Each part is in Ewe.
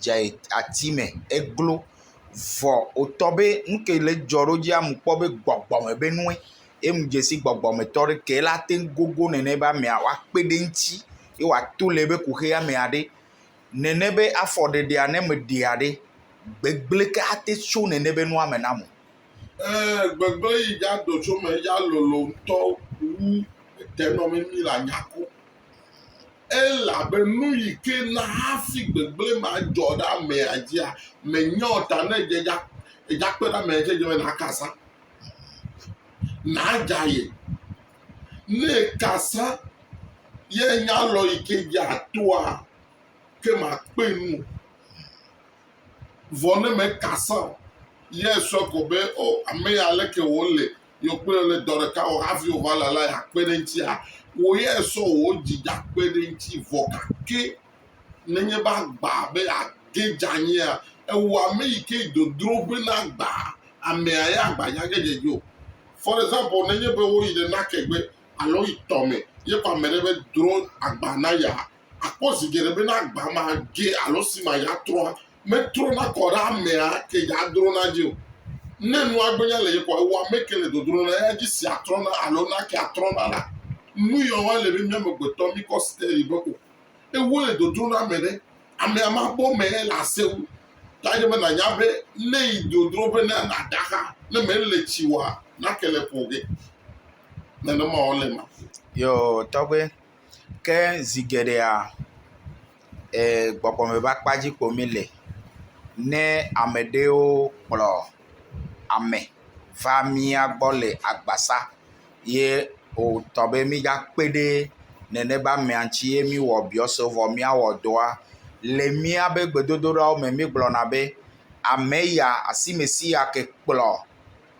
dze ati me eglo vɔ wotɔ be nu ke le edzɔ ɖo dzi amu kpɔ be gbɔgbɔ me be nue. Enu dze si gbɔgbɔmetɔ ɖe ke la te gogo nene be amea woakpe ɖe eŋuti ye wòato le ebe kuxia me aɖe. Nene be afɔ ɖeɖea ne meɖea ɖe, gbegblẽ ke ate tso nene be nua me namu. Ɛ̃, gbegblẽ yi dza do tso me, edza lolo ŋutɔ wu etenɔmemi le anyako. Elabe nuyi ke na hafi gbegblẽ ma dzɔ ɖe amea dzia, mènya o ta ne edze dza edzakpe ɖe amea dzi edze be nàkasa, nàdza ye. Ne èkasa ye nya lɔ yi ke dze atoa, ke makpe nu o. Vɔ ne mèkasa o, ye esɔ ko be, O, ame ya leke wòle? Yewo kple wò le dɔ ɖeka wɔ hafi wò va lala ya kpe ɖe eŋutia? Wò ya èsɔ wò dzi dza kpe ɖe eŋuti vɔ gake nenye be agba be yeage dze anyia, ewɔ ame yi ke yi dodro be nagba amea ya agba nya ge dze dzi o. For example, nenye be woyi ɖe nake gbe alo woyi tɔ me ye kpɔ ame ɖe be dro agba na ya, akpɔ zi geɖe be ne agba ma ge alo esi ma ya trɔa, metrona kɔ ɖe amea ke ya drona dzi o. Ne nua gbenya le yekɔ ewa me ke le dodro na eya dzi sia trɔna alo na ke atrɔna la, nu ya wa le be mi amegbetɔ mi kɔ steli be o. Ewo le dodro na ame ɖe, amea ma bɔ me le ase wu. Ta ye be na nya be ne yi dodro be na na daxa ne me le tsi wa na ke le ƒo ge. Nenema wa le ma. Yo tɔgbe. ke zi geɖea e gbɔgbɔme ƒe akpa dzi ko mí le ne ame aɖewo kplɔ ame va mía gbɔ le agbasa ye wotɔ be mígakpe ɖe nene be amea ŋuti ye míwɔ abiɔse vɔ míawɔ dɔa. Le míaƒe gbedodoɖawo me mígblɔna be ame ya asimesi ya ke kplɔ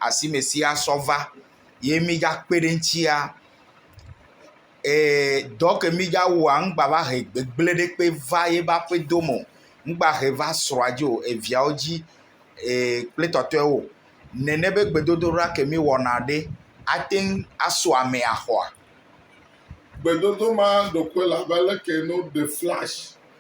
asimesi ya sɔ va. ye mígakpe ɖe eŋuti ya ee dɔ ke mígawɔa megba va he gbegblẽ ɖekpe va yeƒe aƒedo me o, megba he va srɔ̃a dzi o, eviawo dzi ee kple tɔtɔewo o. Nene be gbedodoɖa ke míewɔna ɖe ate ŋu asɔ ame axɔa? Gbedodoɖa ma ɖo koe abe leke ne woɖe flash.